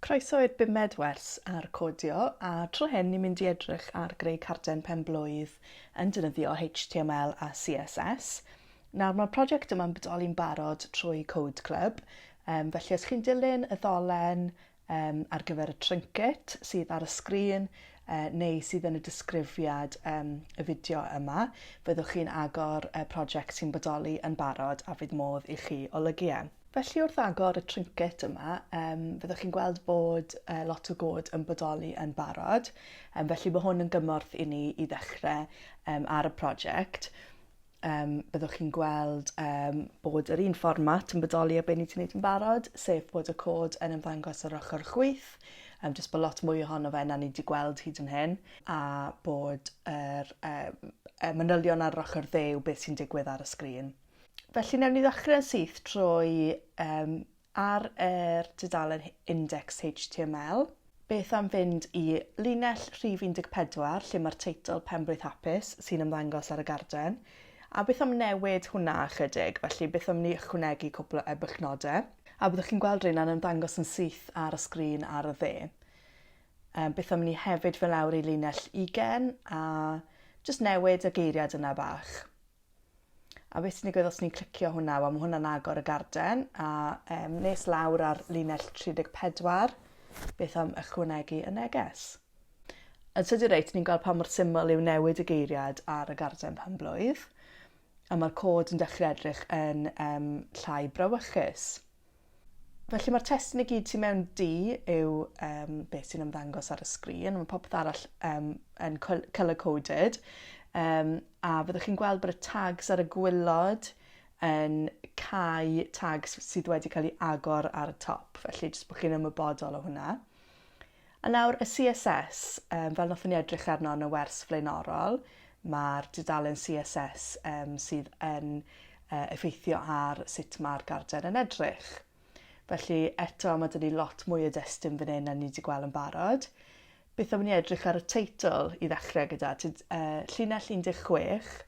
Croeso i'r bumed wers ar codio, a tro hyn ni'n mynd i edrych ar greu carden pen-blwydd yn defnyddio HTML a CSS. Nawr mae'r prosiect yma'n bodoli'n barod trwy Code Club, um, felly os chi'n dilyn y ddolen um, ar gyfer y trinket sydd ar y sgrin uh, neu sydd yn y disgrifiad um, y fideo yma. Fyddwch chi'n agor y prosiect sy'n bodoli yn barod a fydd modd i chi olygu e. Felly wrth agor y trinket yma, um, fyddwch chi'n gweld bod uh, lot o god yn bodoli yn barod, um, felly mae hwn yn gymorth i ni i ddechrau um, ar y prosiect. um, byddwch chi'n gweld um, bod yr un fformat yn bodoli o beth ni wedi gwneud yn barod, sef bod y cod yn ymddangos ar ochr chwyth, um, jyst bod lot mwy ohono fe na ni wedi gweld hyd yn hyn, a bod yr um, manylion ar ochr ddew beth sy'n digwydd ar y sgrin. Felly newn ni ddechrau syth trwy um, Ar er dudalen Index HTML, beth am fynd i linell rhif 14 lle mae'r teitl Penblwydd Hapus sy'n ymddangos ar y garden, a beth am newid hwnna ychydig, felly beth am ni ychwanegu cwpl o ebychnodau, a byddwch chi'n gweld rheina'n ymddangos yn syth ar y sgrin ar y dde. Um, beth am ni hefyd fel lawr i linell ugen a just newid y geiriad yna bach. A beth sy'n digwydd os ni'n clicio hwnna? Wel, mae hwnna'n agor y garden a um, nes lawr ar linell 34, beth am ychwanegu y neges? Yn sydd i'r reit, ni'n gweld pa mor syml yw newid y geiriad ar y garden pan blwydd, a mae'r cod yn dechrau edrych yn um, llai brawychus. Felly mae'r testun i gyd sy'n mewn D yw um, beth sy'n ymddangos ar y sgrin, mae popeth arall um, yn colour-coded. Um, a fyddwch chi'n gweld bod y tags ar y gwylod yn cael tags sydd wedi cael ei agor ar y top, felly jyst bod chi'n ymwybodol o hwnna. A nawr y CSS, um, fel nothon ni edrych arno yn y wers flaenorol, mae'r dudalen CSS um, sydd yn uh, effeithio ar sut mae'r garden yn edrych. Felly eto mae dyn ni lot mwy o destun fan hyn na ni wedi gweld yn barod. Beth am ni edrych ar y teitl i ddechrau gyda tyd, uh, llinell 16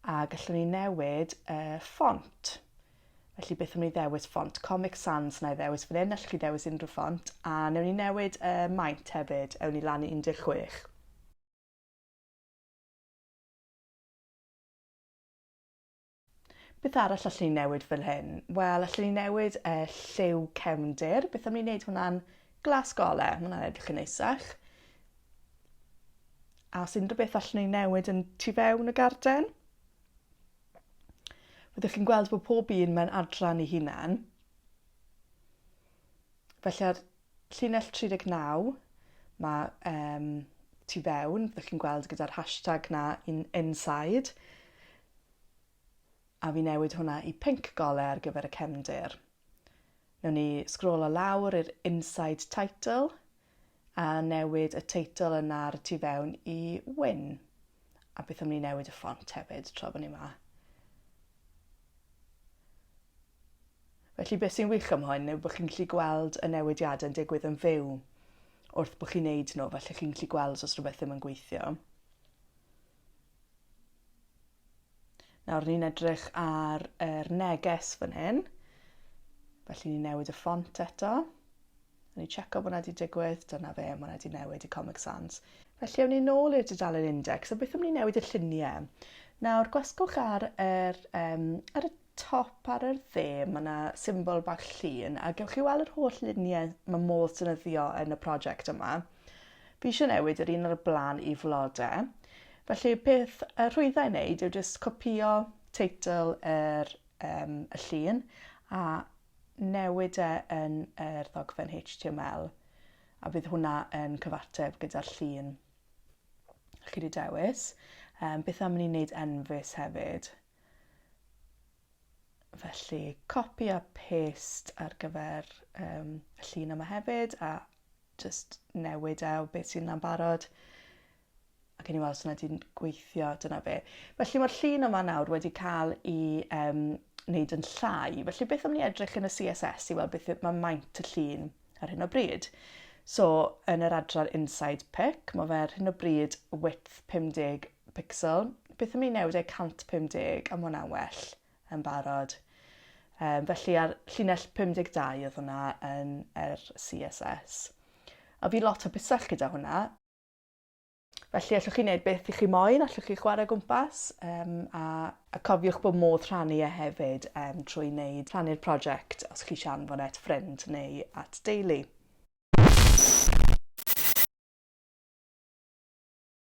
a gallwn ni newid uh, ffont. Felly beth am ni ddewis ffont Comic Sans, na i ddewis fan hyn, allwch chi ddewis unrhyw ffont, a newn ni newid y uh, maint hefyd, ewn ni lan i 16. Beth arall allwn ni newid fel hyn? Wel, allwn ni newid y uh, lliw cefndir, beth am ni wneud hwnna'n glas gole, mae hwnna'n edrych yn eisach. A os unrhyw beth allwn ni newid yn tu fewn y garden? Fyddwch chi'n gweld bod pob un mewn adran ei hunan. Felly ar llinell 39, mae um, tu fewn, fyddwch chi'n gweld gyda'r hashtag na in, inside, a fi newid hwnna i pink gole ar gyfer y cefndir. Newn ni sgrolo lawr i'r inside title, A newid y teitl yna ar y tu fewn i Win. A beth am ni newid y ffont hefyd tra bod ni yma? Felly beth sy'n wych am hwn yw bod chi'n gallu gweld y newidiadau yn digwydd yn fyw wrth bod chi'n neud nhw, felly chi'n gallu gweld os rhywbeth ddim yn gweithio. Nawr ni'n edrych ar yr neges fan hyn. Felly ni'n newid y ffont eto. A ni'n checo bod yna wedi digwydd. Dyna fe, mae yna wedi newid i Comic Sans. Felly awn ni nôl i'r dudalen index a beth am ni newid y lluniau. Nawr gwasgwch ar, er, um, ar y top ar yr dde ma' 'na symbol bach llun a gewch chi weld yr holl lunie ma' modd defnyddio yn y project yma. Fi eisiau newid yr un ar y blaen i flode. Felly peth y rhwyddau wneud yw jyst copio teitl yr, um, y llun a newid e yn yr ddogfen HTML a bydd hwnna yn cyfateb gyda'r llun chi wedi dewis. Um, beth am ni wneud enfys hefyd? Felly, copy a paste ar gyfer um, y llun yma hefyd, a just newid e o beth sy'n na'n barod. Ac yn i weld os yna di'n gweithio, dyna fe. Felly mae'r llun yma nawr wedi cael i um, wneud yn llai. Felly beth am ni edrych yn y CSS i weld beth mae maint y llun ar hyn o bryd. So, yn yr adran Inside Pick, mae fe ar hyn o bryd width 50 Pixel, beth am ni newid e 150 am hwnna'n well yn barod. Um, felly ar llinell 52 oedd hwnna yn yr CSS. A fi lot o busell gyda hwnna. Felly allwch chi wneud beth i chi moyn, allwch chi chwarae gwmpas um, a, a cofiwch bod modd rhannu e hefyd um, trwy wneud rhannu'r prosiect os chi sian fod et ffrind neu at deulu.